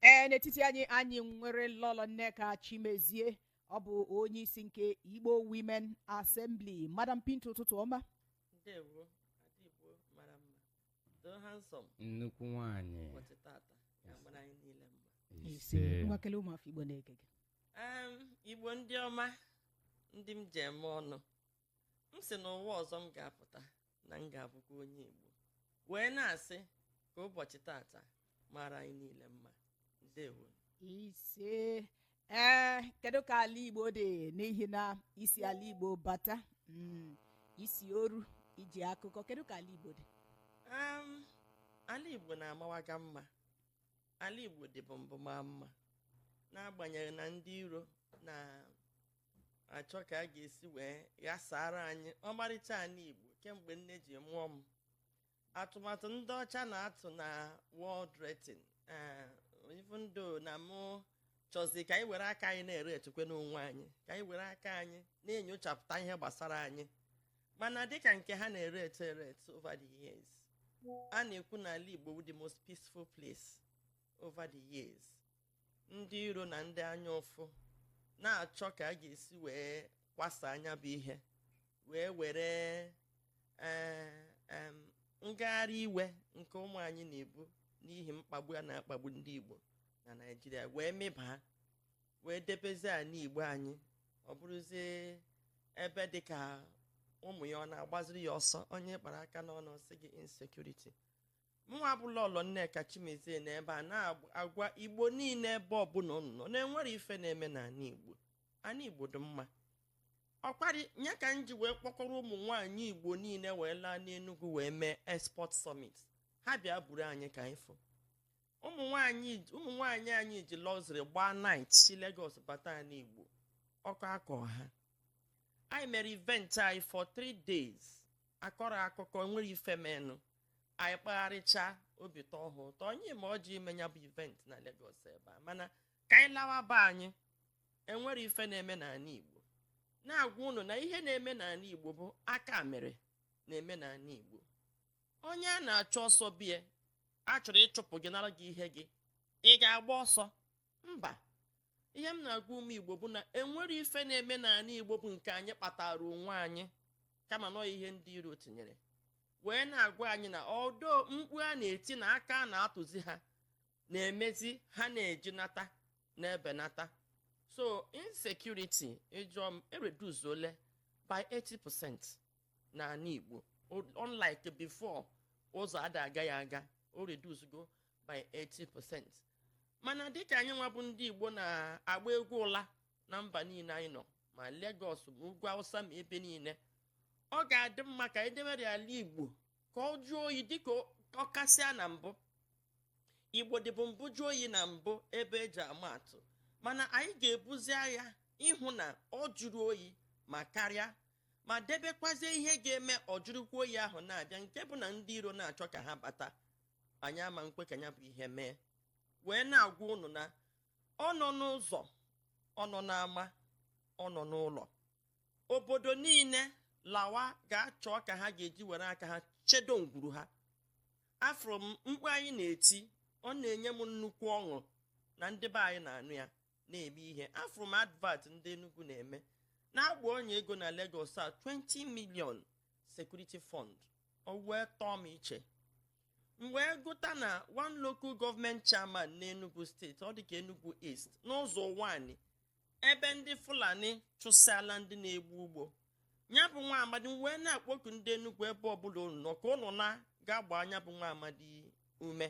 ee n'etiti anyị anyị nwere lọlọ nneka chimezie ọ bụ onye isi nke igbo women assembly madam pinto ụtụtụ ọma ndewo ada igbo mara mma doo handsome nnukwu nwanyị ụbọchị tata ya mara anyị niile mma ise ise ngwa kelee ụmụafọ igbo na-ege gị Em, igbo ndị ọma ndị m ji eme ọnụ m sị n'ụwa ọzọ m ga-apụta na m ga-abụkwa onye Igbo wee na-asị ka ụbọchị tata mara anyị niile mma ndewo ise ee kedu ka ala igbo dị n'ihi na i si ala igbo bata mm, i si oru i ji akụkọ kedu ka ala igbo dị Am, ala igbo na-amawaga mma ala igbo dịbu mbụ maa mma n'agbanyeghị na ndị iro na achọ ka a ga-esi wee ghasara anyị ọmarịcha anị igbo kemgbe nne ji mụọ m atụmatụ ndị ọcha na-atụ na world rating eh, even though na mụ chọzi ka anyị were aka anyị na-eratekwanụ onwe anyị ka anyị were aka anyị na-enyochapụta ihe gbasara anyị mana dịka nke ha na-erate erate over the years a na-ekwu na ala igbo bụ the most peaceful place over the years ndị iro na ndị anya ụfụ na-achọ ka a ga-esi wee kwasa anya bụ ihe wee were eh, ngagharị iwe nke ụmụ anyị na-ebu n'ihi mkpagbu a na-akpagbu ndị Igbo na Naịjirịa wee mịbaa wee debezi ala Igbo anyị ọ bụrụzie ebe dị ka ụmụ ya ọ na-agbaziri ya ọsọ onye kpara aka n'ọnụ sị gị insecurity mụnwa bụ lọlọ nneka chimezie nọ ebe a na-agwa igbo niile ebe ọbụla ụnụ nọ na enwerọ ife na-eme n'ala igbo ala igbo dị mma ọkwarị nya ka m ji wee kpọkọrọ ụmụ nwaanyị igbo niile wee laa n'enugwu wee mee export summit ha bịa buru anyị ka anyị fụ ụmụ nwaanyị anyị ji luxury gbaa night si Lagos bata n'igbo ọkọ akọ ha anyị mere event anyị for three days akọrọ akụkọ nwere ife menụ anyị kpagharịcha obi tọọ ha ụtọ onye ma ọ ji ime ya bụ event na Lagos ebe a mana ka anyị lawa be anyị enwerọ ife na-eme n'ala Igbo na-agwa unu na ihe na-eme n'ala Igbo bụ aka mere na-eme n'ala Igbo onye a na-achụ ọsọ be ya a chọrọ ịchụpụ gị nara gị ihe gị ị ga-agba ọsọ mba ihe m na-agwa ụmụ igbo bụ na enwerọ ife na-eme n'ala igbo bụ nke anyị kpatara onwe anyị kama na ọọ ihe ndị iro tinyere wee na-agwa anyị na ọdọ mkpu a na-eti na aka a na-atụzi ha na-emezi ha na-eji nata na-ebenata so insecurity ị jụọ m ereduceola by 80% n'ala igbo unlike before ụzọ ada agaghị aga o reducego by 80% mana dịka anyị nwa bụ ndị igbo na-agba egwu ụla na mba niile anyị nọ ma Lagos ma ugwu awụsa ma ebe niile ọ ga-adị mma ka anyị debere ala igbo ka ọ jụọ oyi dịka ọ kasịa na mbụ igbo dịbụ mbụ jụọ oyi na mbụ ebe eji ama atụ mana anyị ga-ebuzi agha ịhụ na ọ jụrụ oyi ma karịa ma debekwazie ihe ga-eme ọ jụrụkwa oyi ahụ na-abịa nke bụ na ndị iro na-achọ ka ha bata anyị ama nkwe ka ya bụ ihe mee wee na-agwa ụnụ na ọ nọ n'ụzọ ọ nọ n'ama ọ nọ n'ụlọ obodo niile lawa ga-achọ ka ha ga-eji were aka ha chedo ngwuru ha afụrụ m mkpu anyị na-eti ọ na-enye m nnukwu ọṅụ na ndị be anyị na-anụ ya na-eme ihe afụrụ m advert ndị Enugu na-eme na-agba ọnya ego na Lagos a 20 million security fund o wee tọọ m iche m wee gụta na one local government chairman n'Enugu steeti ọ dịka Enugu East n'Uzo Uwani ebe ndị Fulani chụsịala ndị na-egbu ugbo ya bụ nwa amadi m wee na-akpọku ndị Enugu ebe ọbụla unu nọ ka ụnụ na ga agba nya bụ nwa amadi ume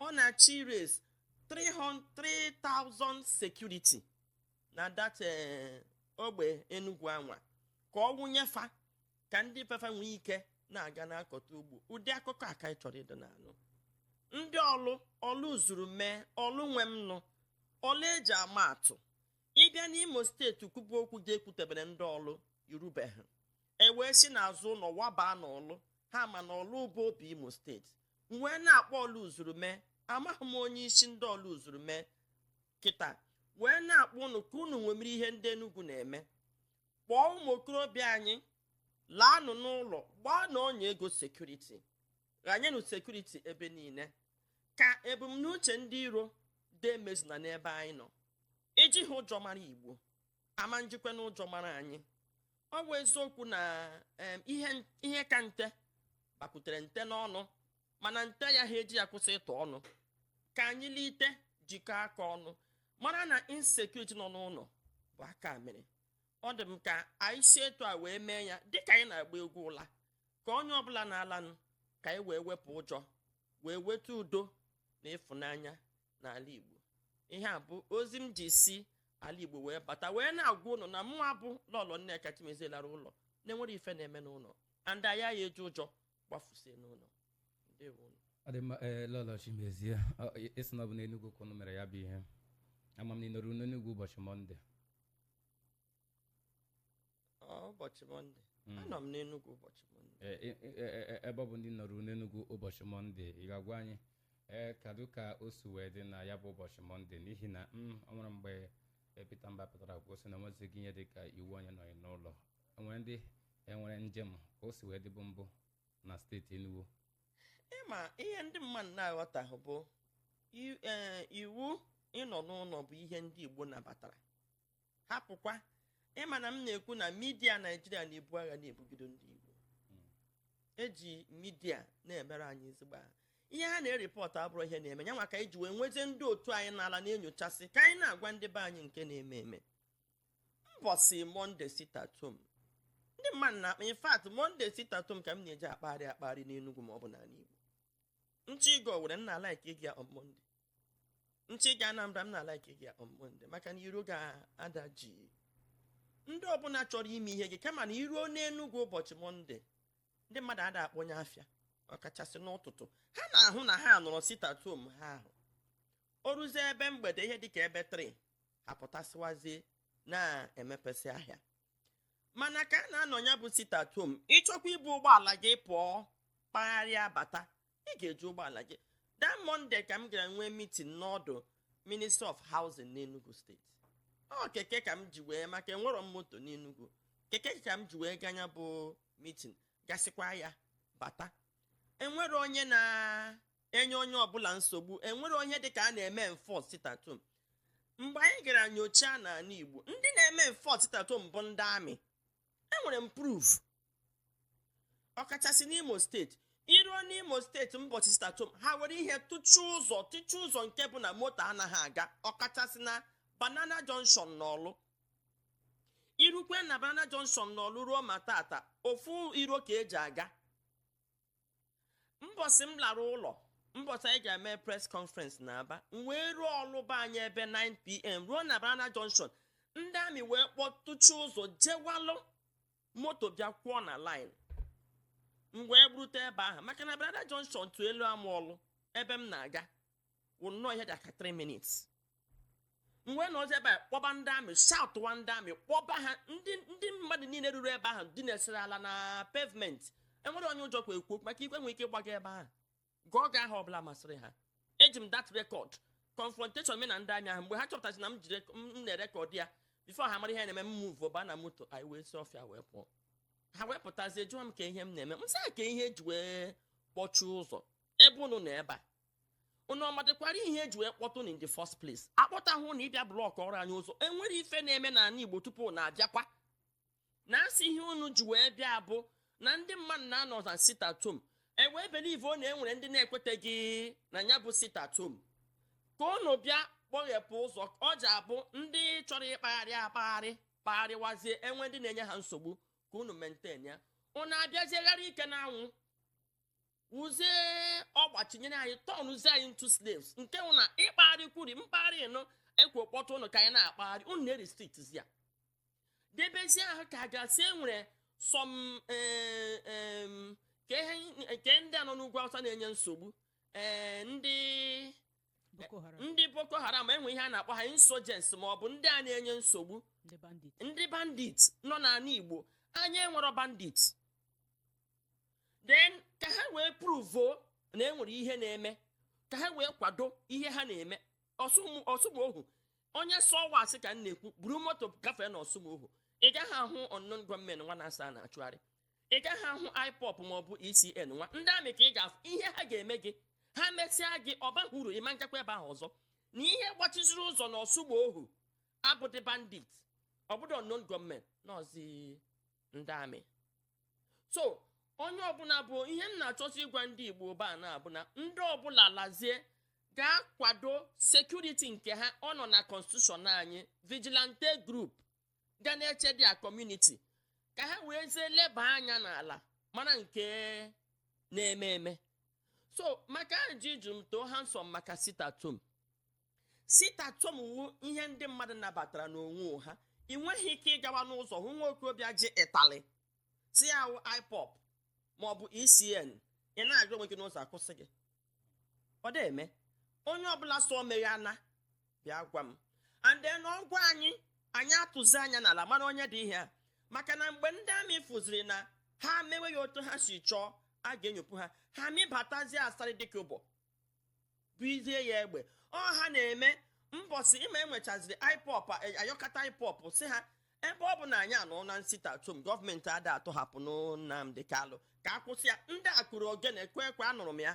ọ na-achọ ịraise 300,000 security na that eh, ogbe Enugu anwa ka ọ wụnye fa ka ndị be fa nwee ike na-aga na-akọta ugbo ụdị akụkọ a ka anyị chọrọ ịdị na-anụ ndị Orlu Orlu zuru mee Orlu nwe m nụ Orlu eji ama atụ ị bịa n'imo steeti kwubu okwu ga-ekwutebere ndị Orlu i rubeghị e wee si n'azụ ụlọ wabaa n'Orlu ha ma na Orlu bụ obi imo steeti wee na-akpọ Orlu zuru mee amaghị m onye isi ndị Orlu zuru mee kịta wee na-akpọ unu ka unu ṅomiri ihe ndị Enugu na-eme kpọọ ụmụ okorobịa anyị laanụ n'ụlọ gbaanụ ọnya ego sekuriti ghanyenụ sekuriti ebe niile ka ebumnuche ndị iro demezuna n'ebe anyị nọ ejiha ụjọ mara igbo ama njikwa na ụjọ mara anyị ọ bụ eziokwu na ihe ka nte bakwutere nte n'ọnụ mana nte ayaha eji ya kwụsị ịtụ ọnụ ka anyị lite jikọọ aka ọnụ mara na insecurity nọ n'ụlọ bụ aka mere ọ dị m ka anyị si etu a wee mee ya dịka anyị na-agba egwu ụla ka onye ọbụla na-alanụ ka anyị wee wepụ ụjọ wee weta udo na ịfụnanya n'ala Igbo ihe a bụ ozi m ji si ala Igbo wee bata wee na-agwa ụnụ na mụwa bụ lọlọ Nneka Chimezie lara ụlọ na-enwere ife na-eme n'ụlọ and anyị ya eji ụjọ gbafusie n'ụlọ ndewo unu ọ dị mma ee lọlọ chimezie Ọ, ị- ị sị na ọ bụ n'enugwu ka unu mere ya bụ ihe ama m na ị nọrọ n'enugwu ụbọchị mọnde Ọ, ụbọchị mọnde anọ m n'enugwu ụbọchị mọnde Ee, e- e- e- e- ebe ọ bụ na ị nọrọ n'enugwu ụbọchị mọnde ị ga-agwa anyị ee kedu ka o si wee dị na ya bụ ụbọchị mọnde n'ihi na ọ nwere mgbe ee, Peter Mba pụtara kwuo sị na enwezighị ihe dị ka iwu onye nọghị n'ụlọ enwere ndị enwere njem ka o si wee dịbụ mbụ na steeti Enugu ị ma ihe ndị mmadụ na-aghọtahụ bụ i- ee, iwu ịnọ n'ụlọ bụ ihe ndị Igbo nabatara hapụkwa ị ma na m na-ekwu na midia Naijiria na-ebu agha na-ebugide ndị Igbo eji midia na-emerụ anyị ezigbo ahụ ihe ha na-erepọtụ abụrọ ihe na-eme ya nwa ka anyị ji wee nwezie ndị otu anyị n'ala na-enyochasị ka anyị na-agwa ndị be anyị nke na-eme eme mbọsị monde sitatom ndị mmadụ na in fact monde sitatom ka m na-eji akpagharị akpagharị n'enugwu ma ọ bụ n'ala igbo m chọọ ịga owere m na-alaik ịga on monde m chọọ ịga anambra m na-alaik ịga on monde maka na iro ga-ada jii ndị ọbụla chọrọ ime ihe gị kama na i ruo n'enugwu ụbọchị monde ndị mmadụ ada akpọnye afịa ọkachasị n'ụtụtụ ha na-ahụ na ha nọrọ sitatom ha ahụ o ruzie ebe mgbede ihe dịka ebe 3 apụtasịwazie na-emepesị ahịa mana ka a na-anọ ya bụ sit at home ị chọkwa ibu ụgbọala gị pụọ kpagharịa bata ị ga-eji ụgbọala gị that monday ka m gara nwee meeting n'ọdụ ministry of housing n'enugu steeti ọ keke ka m ji wee maka enwerọ m moto n'enugu keke ka m ji wee gaa nya bụ meeting gasịkwa ya bata enwerọ onye na enye onye ọbụla nsogbu enwerọ ihe dịka a na-eme enforce sitatom mgbe anyị gara nyocha n'ala Igbo ndị na-eme enforce sitatom bụ ndị amị enwere m proof ọkachasị n'Imo steeti i ruo n'Imo steeti mbọchị sitatom ha were ihe tụchie ụzọ tụchie ụzọ nke bụ na moto anaghị aga ọkachasị na Banana Junction n'Ọlụ i rukwaa na Banana Junction n'Ọlụ ruo ma taata ofu iro ka eji aga mbọsị m lara ụlọ mbọsị anyị ga-eme pres kọnferens na aba m wee ruo ọlụ be anyị ebe 9pm ruo na banana junction ndị amị wee kpọtụchie ụzọ jewalụ moto bịa kwụọ na line m wee gbarute ebe ahụ maka na banana junction to eluama ọlụ ebe m na-aga wụ nnọọ ihe dịka 3 minutes m wee nọzi ebe a kpọba ndị amị shoutụwa ndị amị kpọba ha ndị ndị mmadụ niile ruru ebe ahụ dinasịrị ala na pavement enwero onye ụjọ kwe ekwu maka i kwuo enwere ike ịgba gị ebe ahụ gụọ gị aha ọbụla masịrị ha eji m dat rekọd confrontation mụ na ndị amị ahụ mgbe ha chọpụtasị na m ji rek- m na-erekọd ya bifo ha mara ihe na-eme m muvu ba na moto anyị wee si ọfịa wee pụọ ha wee pụtazie jụọ m kee ihe m na-eme m sị ha kee ihe eji wee kpọchie ụzọ ebe unu nọ ebe a unu ọ madịkwara ihe eji wee kpọta unu in the first place akpọtahụ unu ịbịa blọkụọrọ anyị ụzọ enwere ife na-eme n'ala igbo tupu unu abịakwa na asị ihe unu ji wee bịa bụ na ndị mmadụ na-anọ na sit at home ewee believuo na enwere ndị na-ekweteghị na ya bụ sit at home ka unu bịa kpọghepụ ụzọ ọ ja-abụ ndị chọrọ ịkpagharị akpagharị kpagharịwazie enwee ndị na-enye ha nsogbu ka unu maintain ya unu abịazie gharị ike n'anwụ wụzie ọgbachinyere anyị tọnụzie anyị into slaves nke wụ na ịkpagharịkwuri mkpagharị nụ ekwo kpọta ụnụ ka anyị na-akpagharị ụnụ na-erestrictzi ya debezie ahụ ka a ga-asị enwere some eh, em, ka ihe- nke ndị a nọ n'ugwu awụsa na-enye nsogbu ee ndị Boko Haram, ndị boko haram enwe ihe a na-akpọ ha insurgents ma ọ bụ ndị a na-enye nsogbu ndị bandit. ndị bandit nọ n'ala igbo anyị enwero bandit then ka ha wee pruvo na enwere ihe na-eme ka ha wee kwado ihe ha na-eme ọsụmohu onye sị ọ wụ asị ka m na-ekwu buru moto gafee na ọsụmohu ị gaghị ahụ unknown gunmen nwa a na-asị a na-achụgharị ị gaghị ahụ ipob maọbụ esn nwa ndị amị ka ị ga-afụ ihe ha ga-eme gị ha mesịa gị ọ bahụ uru ị ma njekwa ebe ahụ ọzọ na ihe gbachiziri ụzọ na ọsụmohu abụdị bandit ọ bụdụ unknown gunmen nọzi ndị amị so onye ọbụla bụ ihe m na-achọzi ịgwa ndị igbo ebe a na-abụ na ndị ọbụla lazie gaa kwado sekuriti nke ha ọ nọ na konstitushọn anyị vigilante group ga na-eche their kọmuniti ka ha weezie leba anya n'ala mara nke na-eme eme so maka ajụjụ m too handsome maka sit at home sit at home wụ ihe ndị mmadụ nabatara n'onwe ha ị nweghị ike ịgawa n'ụzọ hụ nwa okorobịa ji ịtali sị ọ wụ ipob maọbụ esn ị na-agara onwe gị n'ụzọ akwụsị gị ọ dị eme onye ọbụla sị o meghe ana bịa gwa m and then ọ gwa anyị anyị atụzi anya n'ala mara onye dị ihe a maka na mgbe ndị amị fụziri na ha mewe ya otu ha si chọọ a ga-enyopụ ha ha mịbatazie asarị dịka ụbọ buizie ya egbe ọ ha na-eme mbọsị ịma enwechaziri IPOB ayọkata IPOB si ha ebe ọ bụ na anyị anọ na sit at home gọọmenti ada atọhapụ Nnamdi Kalụ ka akwụsị ya ndị akụrụ ogene kụọ ekwe anụrụ m ya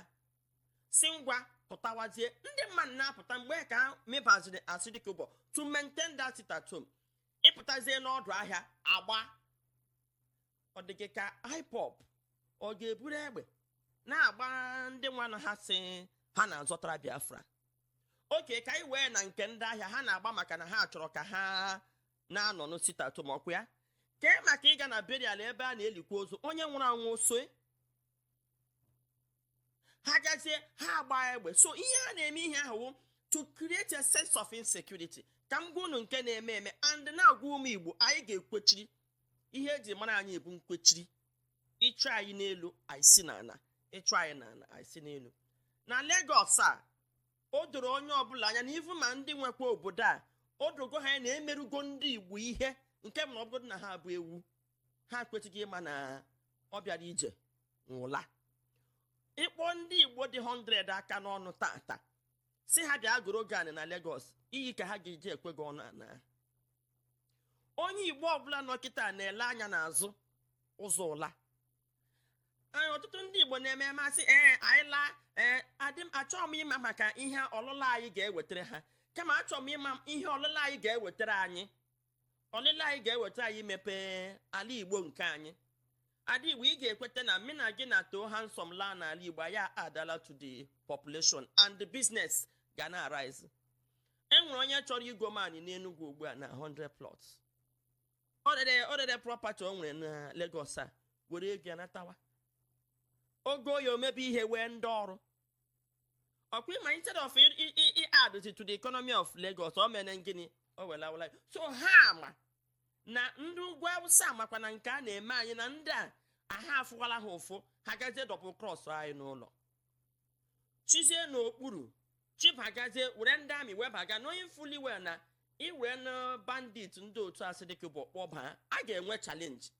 si ngwa pụtawazie ndị mmadụ na-apụta mgbe ka mebaziri asịdịka ụbọ to maintain that sit at home ịpụtazie n'ọdụ ahịa agba ọ dị gị ka IPOB ọ ga-eburu egbe na-agba ndị nwanụ ha sị ha na-azọtara Biafra okay ka anyị wee na nke ndị ahịa ha na-agba maka na ha chọrọ ka ha na-anọ na sit at home ọkwa ya kee maka ịga na burial ebe a na-elikwa ozu onye nwụrụ anwụ so ha gazie ha agba egbe so ihe a na-eme ihe ahụ to create a sense of insecurity ka m gwa unu nke na-eme eme and na-agwa ụmụ igbo anyị ga-ekwechiri ihe eji mara anyị bụ nkwechiri ịchụ anyị n'elu anyị si n'ala ịchụ anyị n'ala anyị si n'elu na Lagos a o doro onye ọbụla anya na even ma ndị nwekwa obodo a o dogo ha anya na emerugo ndị igbo ihe nke bụ na ọ bụrụ na ha bụ ewu ha kwesịgo ịma na ọ bịara ije nwe ụla ịkpọ ndị igbo dị 100 aka n'ọnụ tata si ha bịa goro gị anị na Lagos iyi ka ha ga-eji ekwe gị ọnụ ana onye igbo ọbụla nọ kịta na-ele anya n'azụ ụzọ ụla ọtụtụ ndị igbo na-eme ma asị ee anyị laa ee adị m achọghị m ịma maka ihe ọlụla anyị ga-ewetara ha kama achọrọ m ịma ihe ọlụla anyị ga-ewetara anyị ọlịla anyị ga-eweta anyị imepe ala igbo nke anyị ada igbo ị ga-ekweta na mụ na gị na too handsome laa n'ala igbo ya adala to the population and the business ga na-arise enwere onye chọrọ igo m anị n'enugwu ugbu a na 100 plots o rere property o nwere na Lagos a were ego ya natawa o goo ya o mebe ihe wee ndị ọrụ ọkwa ịma instead of i- i- i- i add it to the economy of Lagos o mere gịnị o wela ya. so ha ma na ndị ugwu awụsa makwa na nke a na-eme anyị na ndị a aha afụwala ha ụfụ ha gazie double cross anyị n'ụlọ chizie n'okpuru chibagazie were ndị army webaga knowing fully well na iwee na bandit ndị otu asị dịka bụ kpọbaa a ga-enwe challenge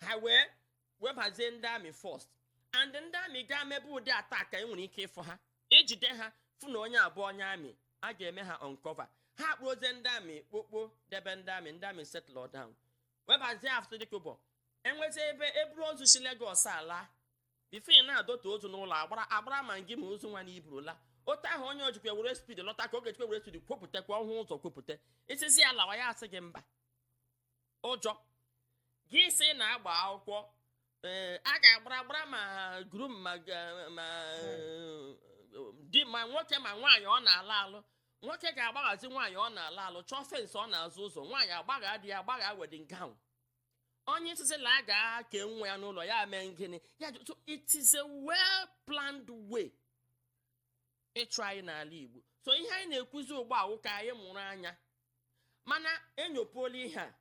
ha wee webazie ndị army first and ndị army gaa mebe ụdị attack ka e nwere ike ịfụ ha ejide ha fụ na onye a bụ onye army a ga-eme ha uncover ha kpụrụzie ndị army kpokpo debe ndị army ndị army settle down webazie after dịka ụbọ enwezie ebe eburu ozu si Lagos ala before ị na-adọta ozu n'ụlọ agbara agbara ma gị ma ozu nwa na iburula otu ahụ onye ojikwa were speed lọta ka oge jikwa were speed kwopụta kwa ọhụụ ụzọ kwopụta i sizi ya lawa ya asị gị mba ụjọ gị sị na agba akwụkwọ ee a ga-agbara agbara ma groom ma ga- ma eh, di ma nwoke ma nwaanyị ọ na-alụ alụ nwoke ga-agbaghazi nwaanyị ọ na-alụ alụ chọọ fence ọ na-azụ ụzọ nwaanyị agbagha di ya agbagha wedding gown onye sịzị na a ga-ake nwa ya n'ụlọ ya mee ngịnị ya jụ- so it is a well planned way ịchụ anyị n'ala Igbo so ihe anyị na-ekwuzi ugbu a wụ ka anyị mụrụ anya mana enyopuola ihe a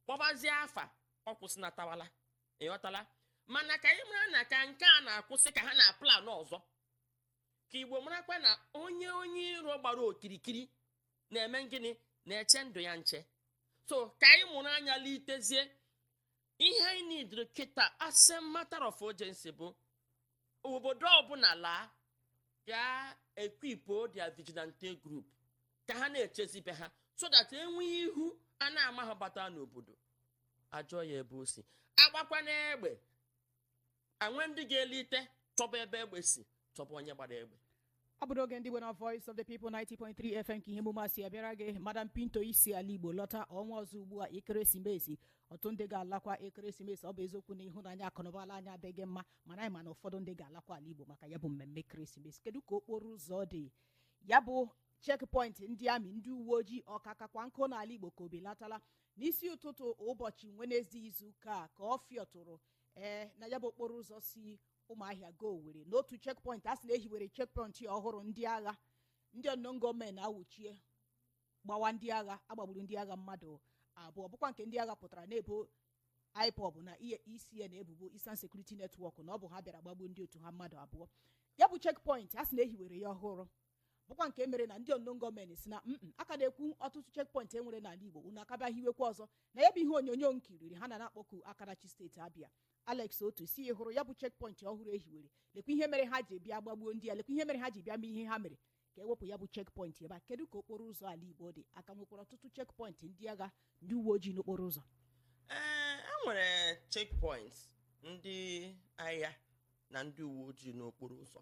kpọbazie afa ọ kwụsịnatawala ị ghọtala mana ka anyị mara na ka nke a na-akwụsị ka ha na-aplan ọzọ ka Igbo marakwa na onye onye iro gbara okirikiri na-eme gịnị na-eche ndụ ya nche so ka anyị mụrụ anya litezie ihe anyị needịrị kịta as a matter of urgency bụ obodo ọbụla laa ga equipuo their vigilante group ka ha na-echezi be ha so that e nwee ihu a na-amaha bata n'obodo a jụọ ya ebe o si a gbakwanụ egbe a nwee ndị ga-elite chọba ebe egbe si chọba onye gbara egbe ọ bụrụ oge ndị Igbo na Voice of the People 90.3 FM ka ihe emume a si abịara gị Madam Pinto i si ala Igbo lọta ọnwa ọzọ ugbu a ekeresimesi ọtụtụ ndị ga-alakwa ekeresimesi ọ bụ eziokwu na ịhụnanya akụnụba ala anyị adịghị mma mana anyị ma na ụfọdụ ndị ga-alakwa ala Igbo maka ya bụ mmemme ekeresimesi kedu ka okporo ụzọ dị ya bụ checkpoint ndị amị ndị uwe ojii ọkakakwa nkụ n'ala Igbo ka o belatala n'isi ụtụtụ ụbọchị Wenezde izuụka a ka ọ fịọtụrụ ee na ya bụ okporo ụzọ si Ụmụahịa gaa Owerri n'otu checkpoint a sị na e hiwere checkpoint ọhụrụ ndị agha ndị unknown gunmen awụchie gbawa ndị agha a gbagburu ndị agha mmadụ abụọ bụkwa nke ndị agha pụtara na-ebo IPOB na ESN ebubo Eastern Security Network na ọ bụ ha bịara gbagbuo ndị otu ha mmadụ abụọ ya bụ checkpoint a sị na e hiwere ya ọhụrụ bụkwa nke mere na ndị unknown gunmen sị na mm a ka na-ekwu ọtụtụ checkpoint e nwere n'ala Igbo unu aka bịa hiwekwa ọzọ na ya bụ ihe onyonyo nkiriri ha na na-akpọku aka na-achị steeti Abịa Alex Otti sị hụrụ ya bụ checkpoint ọhụrụ e hiwere lekwa ihe mere ha ji bịa gbagbuo ndị a lekwa ihe mere ha ji bịa mee ihe ha mere ka e wepụ ya bụ checkpoint ebe a kedu ka okporo ụzọ ala Igbo dị a ka nwekwara ọtụtụ checkpoint ndị agha ndị uwe ojii n'okporo ụzọ ee e nwere checkpoints ndị agha na ndị uwe ojii n'okporo ụzọ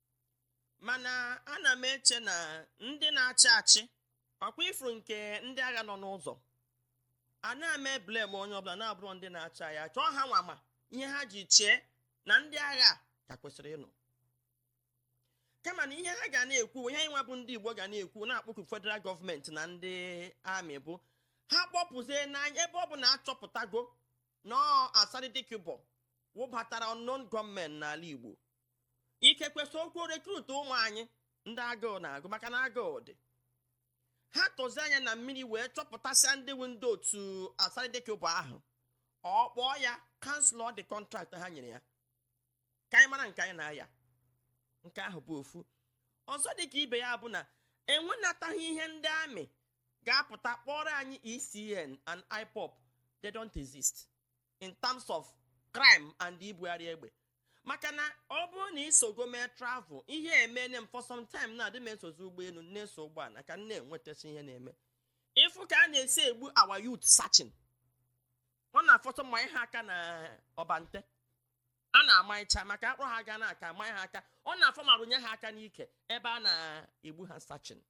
mana ana m eche na ndị na-achị achị ọkwa i furu nke ndị agha nọ n'ụzọ ana m eblame onye ọbụla na-abụrọ ndị na-achị achị ọ ha nwa ma ihe ha ji chee na ndị agha ka kwesịrị ịnọ kama na ihe ha ga na-ekwu ihe anyị nwa bụ ndị Igbo ga na-ekwu na-akpọku federal gọọmenti na ndị amị bụ ha kpọpụzie n'anya ebe ọ bụ na achọpụtago na ọ Asari Dokubo wụbatara unknown gunmen n'ala Igbo ikekwe sokwo rekrut ụmụ anyị ndị agụụ na-agụ maka na agụụ dị ha tụzi anya na mmiri wee chọpụtasịa ndị wụ ndị otu Asari Dokubo ahụ ọ kpọọ ya kansụl ụdị kọntraktị ha nyere ya ka anyị mara nke anyị na-aya nke ahụ bụ ofu ọzọ dị ka ibe ya bụ na enwenataghị ihe ndị amị ga-apụta kpọrọ anyị ECN and IPOB they don't exist in terms of crime and ibugharị egbe maka na ọ bụrụ na i sogo mee travel ihe emene m for some time na adị m esozi ụgbọelu na-eso ụgbọala ka m na-enwetachi ihe na-eme ị fụ ka a na-esi egbu our youth searching ọ na-afọtụ manye ha aka na ọbante a na-amaịcha maka akpụrụ ha ga na-aka amanye ha aka ọ na-afọ ma rụnye ha aka n'ike ebe a na-egbu ha searching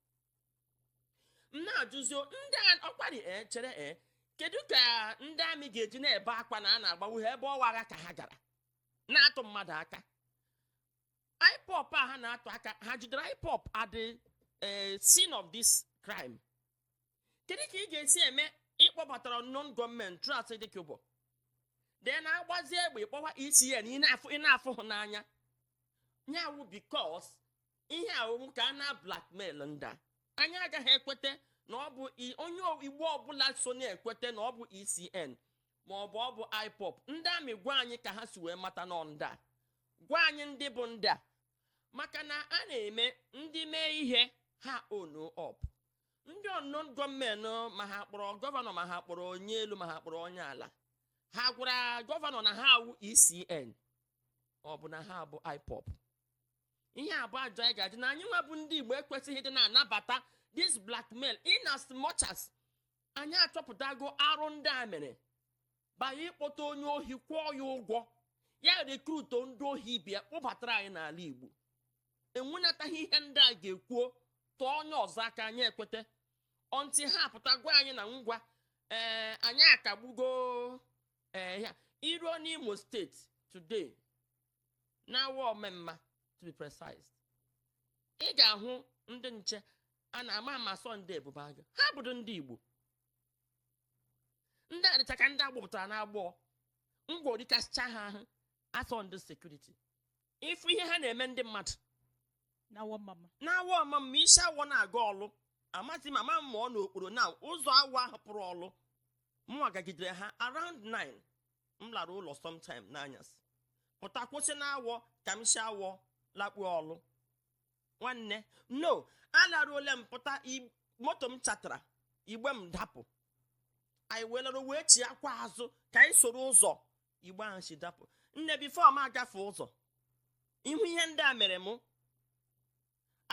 m na-ajụzi ndị a ọkwari ee chere ee kedu ka ndị amị ga-eji na-ebe akwa na a na-agbagbu ha ebe ọ wụ agha ka ha gara na-atụ mmadụ aka IPOB a ha na-atụ aka ha jidere IPOB at the scene of this crime kedu ka ị ga-esi eme ị kpọbatara unknown gunmen through Asari Dokubo then a gbazie egbe kpọwa ECN ị na-afụ ị na-afụ hụ n'anya nya wụ because ihe a wụ ka a na-blackmail ndị a anyị agaghị ekweta na ọ bụ i- onye igbo ọbụla so na-ekweta na ọ bụ ecn ma ọ bụ ọ bụ IPOB ndị amị gwa anyị ka ha si wee mata na ọ ndị a gwa anyị ndị bụ ndị a maka na a na-eme ndị mee ihe ha own up ndị unknown gunmen ma ha kpọrọ gọvanọ ma ha kpọrọ onye elu ma ha kpọrọ onye ala ha gwara gọvanọ na ha awụ ecn ọ bụ na ha abụ IPOB ihe abụọ ajọ anyị ga-adị na anyị nwa bụ ndị igbo ekwesịghị ịdị na-anabata this blackmail in as much as anyị achọpụtago arụ ndị a mere banye ịkpọta onye ohi kwụọ ya ụgwọ ya rekruto ndị ohi ibe ya kpụbatara anyị n'ala igbo enwenataghị ihe ndị a ga-ekwuo tụọ onye ọzọ aka anyị ekweta until ha apụta gwa anyị na ngwa ee eh, anyị akagbugo ee eh, ya i ruo n'imo steeti today n'Awọ Ọmamma to be precise ị ga-ahụ ndị nche a na-ama ama as ndị ebube agụ ha bụrụ ndị igbo ndị a dịcha ka ndị a gbụpụtara n'agbọ ngwọ rikasịcha ha ahụ as ndị sekuriti ị fụ ihe ha na-eme ndị mmadụ na Awọ Ọmamma n'Awọ Ọmamma i si awọ na-aga ọlụ amaghị m ama m ma ọ n'okporo na ụzọ awọ ahụ pụrụ ọlụ mụwa gagidere ha around 9 m lara ụlọ sometime n'anyasị pụta kwụsị na awọ ka m si awọ lakpuo ọlụ nwanne no alaruole m pụta moto m chatara igbe m dapụ anyị welere wee chiakwa azụ ka anyị soro ụzọ igbe ahụ si dapụ nne before m agafe ụzọ ịhụ ihe ndị a mere mụ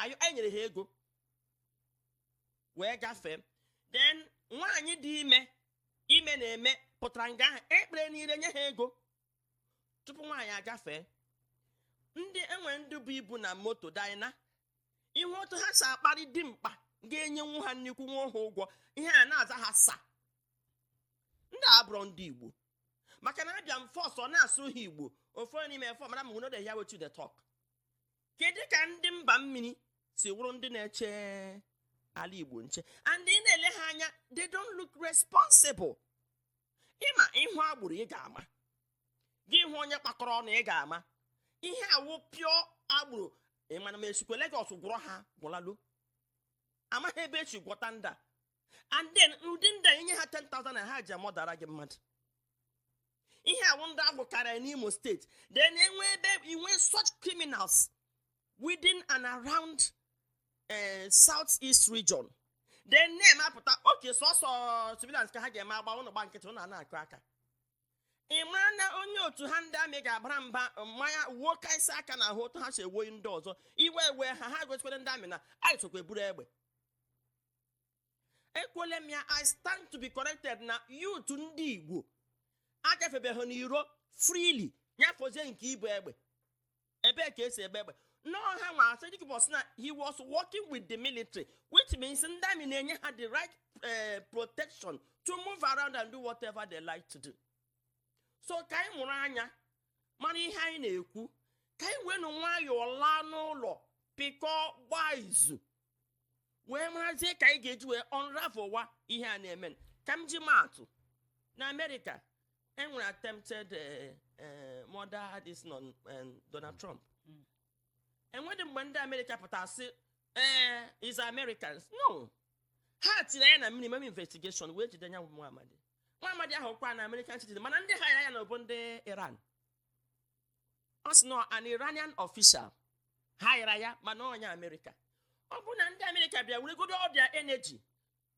anyị nyere ha ego wee gafee then nwaanyị dị ime ime na-eme pụtara nga ahụ ekpere niile nye ha ego tupu nwaanyị agafee ndị enwe ndị bu ibu na moto dina ihe otu ha si akparị dimkpa ga-enyenwu ha nnukwu nwa ha ụgwọ ihe a na-aza ha sir ndị abụrọ ndị igbo maka na abịa m first na-asụrụ ha igbo ofu n'ime fọ mara m no dey hear wetin dey talk kedu ka ndị mba mmiri si wụrụ ndị na-eche ala igbo nche and ị na-ele ha anya they don't look responsible ị ma ị hụ agboro ị ga-ama gị hụ onye kpakọrọ ọnụ ị ga-ama ihe a wụ pure agboro ị manụ ma e sikwe Lagos gwuru ha gwụlalu amaghị ebe e si gwuta ndị a and then ndị ndị ị nye ha 10,000 na ha ji amụdara gị mmadụ ihe a wụ ndị agwụ karịa n'imo steeti then enwe ebe inwe such criminals within and around uh, south east region then ndị army apụta okay sọsọ civilians ka ha ga-eme agba ụnụ gba nkịtị ụnụ na-akụ aka ị mara na onye otu ha ndị army ga-abara mba mmanya wuo ka isi aka na ahụ otu ha si ewoyi ndị ọzọ iwe ewe ha ha gosikwere ndị army na anyị sokwa eburu egbe ekwuole m ya i stand to be corrected na youth ndị igbo agafebeghị n'iro freely nya fọzie nke ibu egbe ebee ka e si ebu egbe n'ọha nwa Asari Dokubo sị na he was working with the military which means ndị army na-enye ha the right eh, protection to move around and do whatever they like to do so ka anyị mụrụ anya mara ihe anyị na-ekwu ka anyị werenụ nwayọọ laa n'ụlọ pịkọọ gbaa izu wee marazie ka anyị ga-eji wee unravelwa ihe a na-eme ka m ji maatụ na America enwere attempted eh, eh, murder this non eh, donald trump Mm. enwedị mgbe ndị America pụtara sị ee is americans no ha tiri anya na minimum investigation wee jide nya wụ nwa amadi nwa amadi ahụ kwa na american citizen mana ndị hire ya na ọ bụ ndị iran ọ sị na an Iranian official haịra ya mana onye Amerịka ọ bụ na ndị Amerịka bịa weregodo all their energy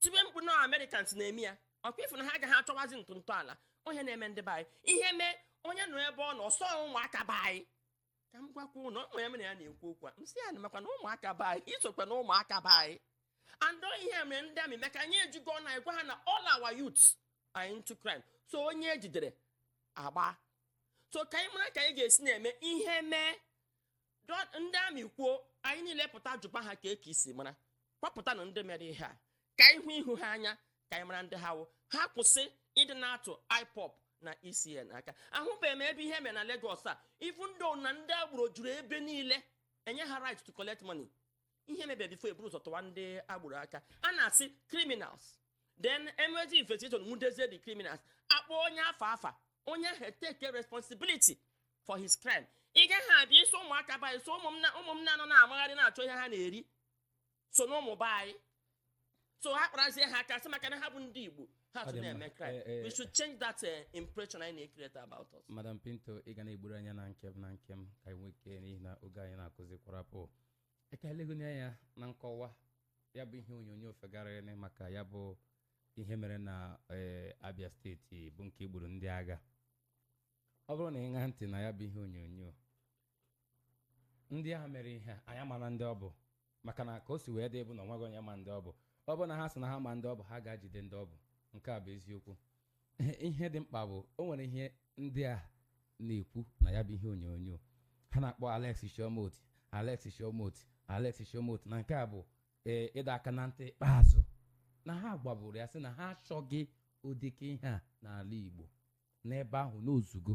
tibe mkpu na Americans na-eme ya ọkwa ịfụ na ha agaghị achọwazi ntụ ntọala onye na-eme ndị be anyị ihe mee onye nọ ebe ọ nọ sọ ụmụaka be anyị ka m gwakwa ụnụ ụmụ ya mere ya na-ekwu okwu a m sị ya na makwa na ụmụaka be anyị isokwa na ụmụaka be anyị and ihe mere ndị army maka anyị ejigo na-agwa ha na all our youths are into crime so onye ejidere agba so ka anyị mara ka anyị ga-esi na-eme ihe mee dọ- ndị army kwuo anyị niile pụta jụba ha ka eke isi mara kpọpụtanụ ndị mere ihe a ka anyị hụ ihu ha anya ka anyị mara ndị ha wụ ha kwụsị ịdị na-atụ IPOB na ESN aka ahụbeghị m ebe ihe mere na Lagos a even though na ndị agboro juru ebe niile e nye ha right to collect money ihe mebie before e buru ụzọ tụwa ndị agboro aka a na-asị criminals then emezie investigation nwudezie the criminals akpọọ onye afụ afa onye ahụ take responsibility for his crime ị gaghị abịa iso ụmụaka be anyị so ụmụ m na- ụmụ m na-anọ na-amagharị na-achọ ihe ha na-eri so na ụmụ be anyị so ha kparazie ha aka sị maka na ha bụ ndị igbo ha Ọ tụ dị mma. na-eme crime Eh, eh. we should change that eh, impression anyị na-create about us madam pinto ị ga na-egburu anya na nkem na nkem ka anyị nwee ike n'ihi na oge anyị na-akụzi kwarapụ ka e legoni anya na nkọwa ya bụ ihe onyonyo fegharịrị maka ya bụ ihe mere na eh, abia steeti bụ nke gburu ndị agha ọ bụrụ na ị ṅaa ntị na ya bụ ihe onyonyo ndị ahụ mere ihe a, anyị amarọ ndị ọ bụ maka na ka o si wee dị bụ na onweghị onye ma ndị ọ bụ ọ bụ na ha sị na ha ma ndị ọ bụ ha ga-ajide ndị ọ bụ nke a bụ eziokwu ihe dị mkpa bụ o nwere ihe ndị a na-ekwu na ya bụ ihe onyonyo ha na-akpọ Alex Chioma Otti Alex Chioma Otti Alex Chioma Otti na nke a bụ ee ịdọ aka na ntị ikpeazụ na ha gwaburu ya sị na ha achọghị ụdịka ihe a n'ala igbo n'ebe ahụ n'ozugo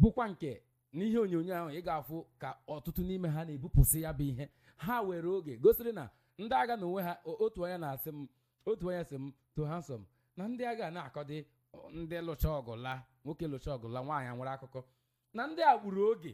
bụkwa nke n'ihe onyonyo ahụ ị ga-afụ ka ọtụtụ n'ime ha na-ebupụsị ya bụ ihe ha were oge gosiri na ndị agha n'onwe ha otu onye na-asị m otu onye sị m too handsome na ndị agha na-akọdị ndị lụchaa ọgụ laa nwoke lụchaa ọgụ laa nwaanyị enwere akụkọ na ndị a gburu oge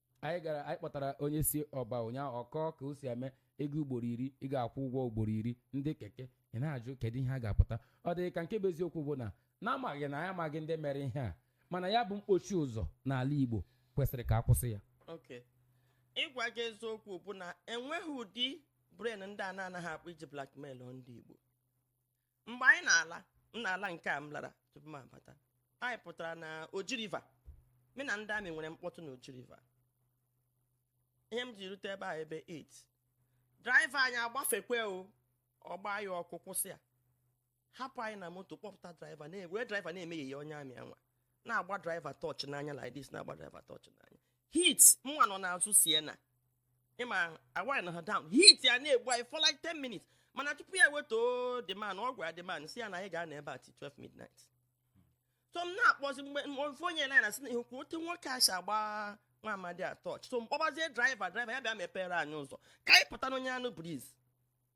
anyị gara anyị kpọtara onye si ọba ụnyaahụ ọ kọọ ka o si eme ị gaa ugboro iri ị ga-akwụ ụgwọ ugboro iri ndị keke ị na-ajụ kedu ihe a ga-apụta ọ dị ka nke bụ eziokwu bụ na n'amaghị na anyị amaghị ndị mere ihe a mana ya bụ mkpochi ụzọ n'ala Igbo kwesịrị ka a kwụsị ya okay ịgwa gị eziokwu bụ na enweghị ụdị brain ndị a na-anaghị akpụ iji blackmail ndị Igbo mgbe anyị na-ala m na-ala nke a m lara tupu m abata anyị pụtara na oji river mụ na ndị army nwere mkpọtụ na oji river ihe m ji rute ebe a ebe 8 driver anyị agbafekwe o ọ gbaa ya ọkụ kwụsị ya hapụ anyị na moto kpọpụta driver were driver na-eme yeye onye army anwa na-agba driver torch n'anya like this na-agba driver torch n'anya heat nwa nọ n'azụ sienna ị ma a winda ha down heat ya na-egbu anyị for like 10 minutes mana tupu ya wetuo the man ọ gwara the man sị ya na anyị ga-anọ ebe a till 12 midnight so m na-akpọzi mgbe m- ofu onye na na-asị nekwa otu nwoke a si agba nwa amadi a torch so m kpọbazie driver driver ya bịa mepere anyị ụzọ ka anyị pụta n'onye anụ breeze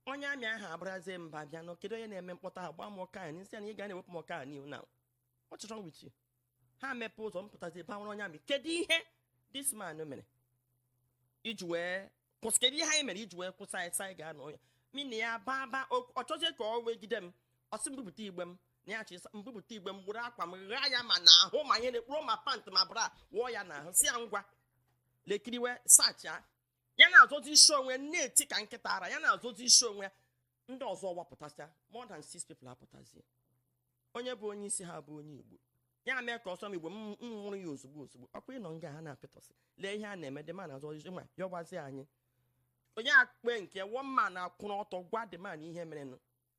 onye army ahụ abarazie mba bịa nọ kedu onye na-eme mkpọtụ ahụ gbaa m ọkụ n'anya m sị ya na ị ga na-ewepụ m ọkụ n'anya now what's wrong with you ha mepe ụzọ m pụtazie bakwuru onye army kedu ihe this man mere i ji wee kwụsị kedu ihe anyị mere i ji wee kwụsị anyị sị anyị ga-anọ ya mụ na ya baba ọ chọzie ka ọ wegide m ọ sị m bupụta igbe m na ya chịsa m bupụta igbe m buru akwa m ghaa ya ma n'ahụ ma ihe na-ekpuro ma pant ma bra wụọ ya n'ahụ sị ya ngwa lekiriwe searchịa ya na-azọzi isi onwe na-eti ka nkịta ara ya na-azọzi isi onwe ndị ọzọ wapụtasịa more than six people apụtazie onye bụ onye isi ha bụ onye igbo ya mee ka ọ sụọ m igbo m nwụrụ ya ozugbo ozugbo ọkwa ị nọ nga ahụ na-apị torch lee ihe a na-eme the man na-azọ isi ma yọbazi anyị onye akpe nke woman akwụrụ ọtọ gwa the man ihe merenụ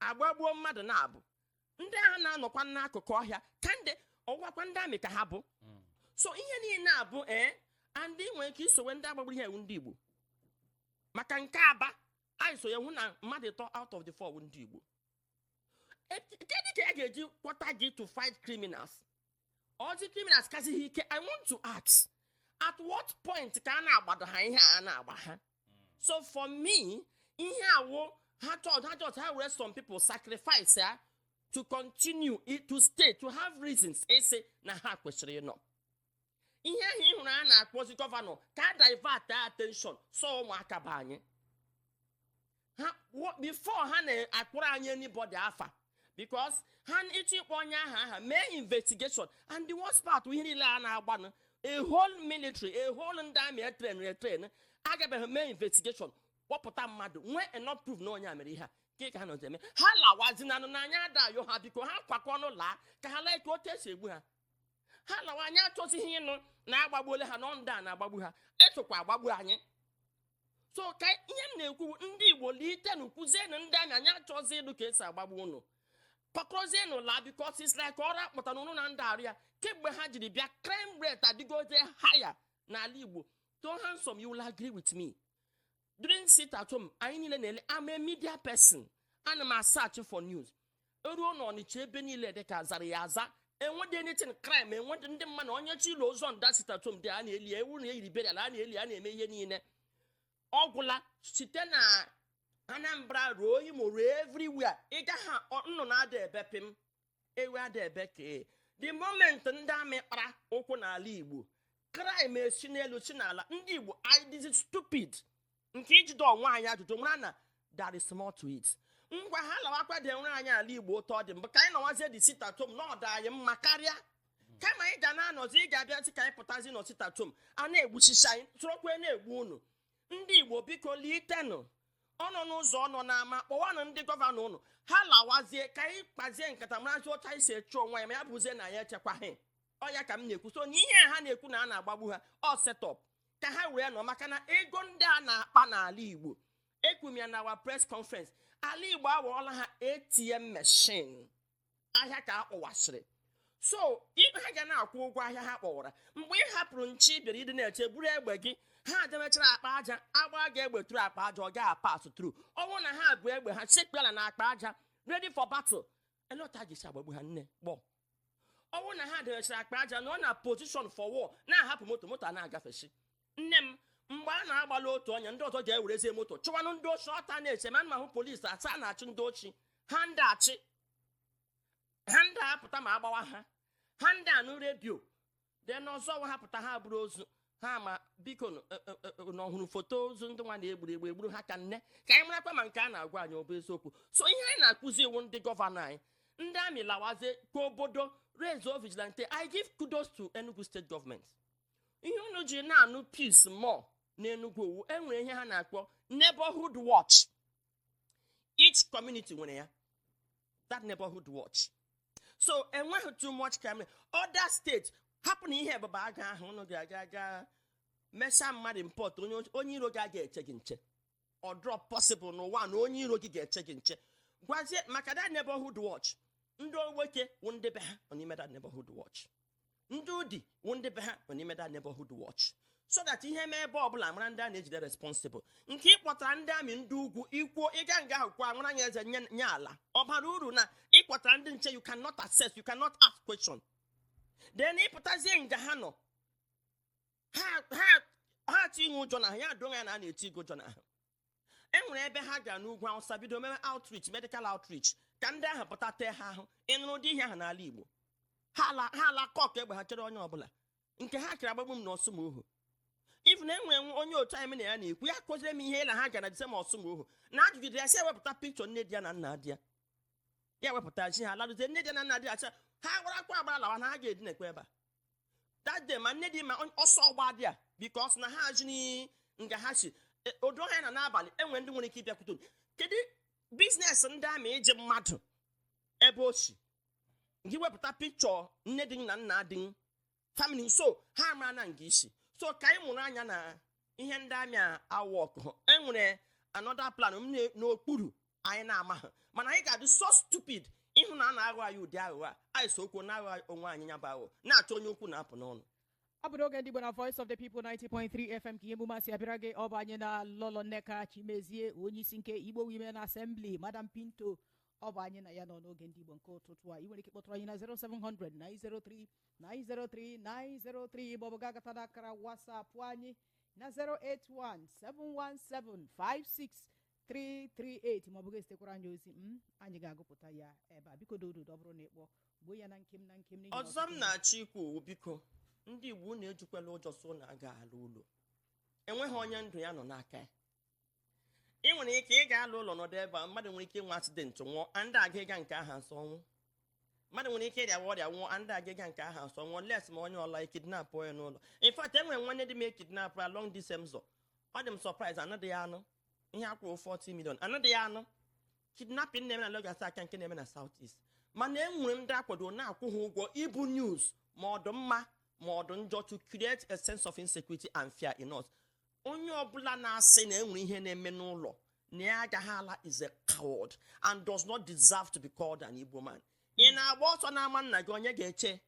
a gbagbuo mmadụ na-abụ ndị ahụ na-anọkwa n'akụkụ ọhịa ka ndị ọ wụkwa ndị army ka ha bụ Mm. so ihe niile abụ ee and i nwere ike i sowe ndị a gbagburu ihe a wụ ndị igbo maka nke aba anyị so ya hụ na mmadụ ịtọ out of the four bụ ndị igbo E- kedu ka ya ga-eji kpọta gị to fight criminals ọ zị criminals kazị gị ike i want to ask at what point ka a na-agbado ha ihe a na-agba ha so for me ihe a wụ ha chọt ha chọt ha were some people sacrifice ya to continue i- to stay to have reasons ịsị na ha kwesịrị ịnọ ihe ahụ ị hụrụ a na-akpọzi gọvanọ ka a divert attention so ụmụaka be anyị ha wo- before ha akpọrọ anyị anybody afa because ha chọọ ịkpọ onye aha aha mee investigation and the worst part ihe niile a na-agbanụ a whole military a whole ndị army e train e train agabeghị mee investigation kpọpụta mmadụ nwee enough proof na onye a mere ihe a nke ka ha nọzi eme ha lawazinanụ na anyị na-ayọ ha biko ha kwakọ ọnụ laa ka ha lee ka otu e si egbu ha ha lawa anyị achọzighị ịnụ na agbagbuola ha na ọ ndị a na-agbagbu ha esokwa agbagbu anyị so ka ihe m na-ekwu ndị igbo litenụ kwuzienụ ndị amị anyị achọzi ịnụ ka esi agbagbu unu pakọzienụ laa because it's like ọrụ akpọtara unu anadị arụ ya kemgbe ha jiri bịa crime rate adịgote higher n'ala igbo so handsome you will agree with me during sit at home anyị niile na-ele I'm a media person ana m asearch for news eruo na ọnịcha ebe niile dị ka azara ya aza enwedị anything crime enwedị ndị mmadụ onye chọ ili ozu on that sit at home day a na-eli ya, ọ wụ na eyiri burial a na-eli a na-eme ihe niile ọ gwụla site na anambra ruo imo ruo everywhere ị gaghị ọ- nnụnụ ada ebe pịm ewu ada ebe kpee. the moment ndị amị kpara ụkwụ n'ala igbo crime esi n'elu si n'ala ndị igbo anyị dịzi stupid nke iji jụọ onwe anyị ajụjụ mara na there is more to it ngwa ha lawakwa dewere anyị ala igbo otu ọ dịbu ka anyị nọwazie the sit at home na ọ dị anyị mma karịa kama anyị ga na-anọzi ị ga-abịa sị ka anyị pụtazi na sit at home a na-egbuchicha anyị sorokwa na-egbu unu ndị igbo biko litenụ ọ nọ n'ụzọ ọ nọ n'ama kpọwanụ ndị gọvanọ ụnụ ha lawazie ka anyị kpazie nkata marazi otu anyị si eche onwe anyị ma ya bụzie na anyị echekwaghị ọ ya ka m na-ekwu so na ihe ha na-ekwu na a na-agbagbu ha ọ setup ka ha wee nọ maka na ego ndị a na-akpa n'ala igbo ekwu m ya na our press conference ala igbo awọọla ha atm machine ahịa ka ha kpọwasịrị so ibe ha ga na-akwụ ụgwọ ahịa ha kpọwara mgbe ị hapụrụ nche bịara ịdị na-eche buru egbe gị ha dewechara akpa aja agbaa gị egbe through akpa aja ọ ga-apass through ọ wụrụ na ha bu egbe ha sekpuo ala na akpa aja ready for battle olee otu a ga-esi agbagbu ha nne gbọ ọ wụrụ na ha dewesịrị akpa aja nọ na position for war na-ahapụ moto moto a na-agafesi nne m mgbe a na-agbala otu onye ndị ọzọ ga-ewerezie moto chụwanụ ndị oshi ọta na-ese ma nna hụ polisi asaa na-achụ ndị oshi ha anadị achụ ha anadị apụta ma agbawa ha ha anadị anụ redio then ọzọ nwa ha pụta ha buru ozu ha ma biko nụ, e, e, e, na ọhụrụ foto ozu ndị nwa na egburu egbu egburu ha ka nne ka anyị marakwa ma nke a na-agwa anyị ọ bụ eziokwu so ihe anyị na-ekwuzi wụ ndị gọvanọ anyị ndị amị lawazie ka obodo raiseuo vigilante i give kudos to enugu state government ihe unu ji na-anụ peace more n'enugwu ọ wụ enwere ihe ha na-akpọ neighborhood watch each community nwere ya that neighborhood watch so enweghị too much crime other states hapụnụ ihe ebube agụ ahụ ụnụ ga-aga aga mesaa mmadụ import onye onye iro gị aga eche gị nche ọ dịrọ possible n'ụwa na onye iro gị ga-eche gị nche gwazie maka that neighborhood watch ndị nwoke wụ ndị be ha nọ n'ime that neighborhood watch ndị udi wụ ndị be ha nọ n'ime that neighborhood watch so that ihe mee ebe ọbụla amara ndị a na-ejide responsible nke ịkpọtara ndị army ndị ugwu ikwuo ịga nga ahụ kwa nwara anya eze nye nye ala ọ bara uru na ịkpọtara ndị nche you cannot assess you cannot ask question then ịpụtazie nga ha nọ ha ha ha etiwe ụjọ n'ahụ ya adụghị ya na a na-eti gị ụjọ n'ahụ e nwere ebe ha gara n'ugwu awụsa bido mewe outreach medical outreach ka ndị ahụ pụta tee ha ahụ ịnụrụ ụdị ihe ahụ n'ala igbo ha ala ha ala cock egbe ha chere onye ọbụla nke ha kere agbagbu m na ọsụmọghụ even enwere onye otu anyị m na ya na-ekwu ya kọziri m ihiala ha gara the same ọsụmọghụ na ajụjụ di ya sị ewepụta picture nne di ya na nna di ya ya wepụta chi ha laluzie nne di ya na nna di ya sị ha gbarakwa agbara lawa na ha ga-edinekwa ebe a that day ma nne di ma on- ọsọ ọgba dị a because na ha ajụziri nga ha si E, odo ha na n'abalị enwere ndị nwere ike ịbịakwute unu. kedu business ndị army ịjụ mmadụ ebe o si gị wepụta picture nne di na nna di family so ha mara na nga i si so ka anyị mụrụ anya na ihe ndị army a awọkụ enwere another plan na- n'okpuru anyị na-amaghị mana anyị ga-adị so stupid ịhụ na a na-aghọ anyị ụdị aghụghọ a anyị so okwu na-aghọ onwe anyị ya bụ aghụghọ na-achọ onye okwu na-apụ n'ọnụ ọ bụ n'oge ndị Igbo na Voice of the People 90.3 FM ka ihe emume a si abịara gị ọ bụ anyị na Lolo Nneka Chimezie onye isi nke Igbo Women Assembly Madam Pinto ọ bụ anyị na ya nọ n'oge ndị Igbo nke ụtụtụ a ị nwere ike kpọtụrụ anyị na 0700 903 903 903 maọbụ gaa gata n'akara WhatsApp anyị na 081 717 56 338 ma ọ bụ gị ezitekwara anyị ozi anyị ga-agụpụta ya ebe a biko dododo ọ bụrụ na ịkpọ gbuo ya na nkenke n'ihi na ọzọ m ọtụtụ- na-achọ ikwu ọ wụ biko ndị igbo unu ejikwala ụjọ sị na aga ala ụlọ enweghị onye ndụ ya nọ n'aka ya ị nwere ike ị ga-ala ụlọ nọdụ ebe a mmadụ nwere ike inwe accident nwụọ anadị aregard nke aha as ọnwụ mmadụ nwere ike ịrịawa ọrịa nwụọ anadị aregard nke aha as ọnwụ unless ma onye ọla ekidnap onye n'ụlọ in fact enwere nwanne di m ekidnap along this same ụzọ ọ dị m surprise anaghị ya anụ ihe akwụrụ 40 million anadịghị anụ kidnapping na-eme na Lagos a ka nke na-eme na South East mana e nwere ndị akwado na-akwụ ha ụgwọ ibu news ma ọ dụ mma ma ọ dụ njọ to create a sense of insecurity and fear in us onye ọbụla na-asị na enwere ihe na-eme n'ụlọ na ya agaghị ala is a coward and does not deserve to be called an Igbo man ị na-agba ọsọ n'ama nna gị onye ga-eche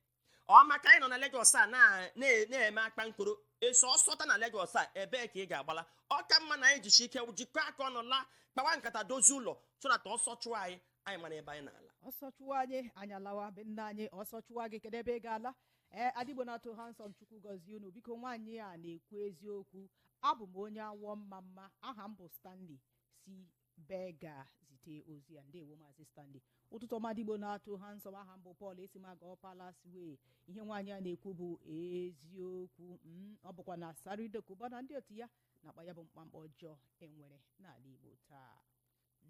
ọ maka anyị nọ na Lagos a na- na- na-eme akpa nkoro eso ọsọ taa na Lagos a ebee ka ị ga-agbala ọ ka mma na anyị jisi ike jikọọ aka ọnụ laa kpawa nkata dozie ụlọ so that ọsọ chụọ anyị anyị mara ebe anyị na-ala ọsọ chụwa anyị anyị alawa be nna anyị ọsọ chụwa gị kedu ebe ị ga-ala ee adigbo na-atụ ha nsọ chukwu gọzie unu biko nwaanyị a na-ekwu eziokwu abụ m onye awọ ọmamma aha m bụ stanley si Berger zite ozi a ndewo maazị stanley ụtụtụ ọma Ada Igbo na Too Handsome aha m bụ Paul esi m Ago Palace Way ihe nwaanyị a na-ekwu bụ eziokwu mm, ọ bụkwa na Asari Dokubo na ndị otu ya na-akpa ya bụ mkpamkpa ọjọọ e nwere n'ala igbo taa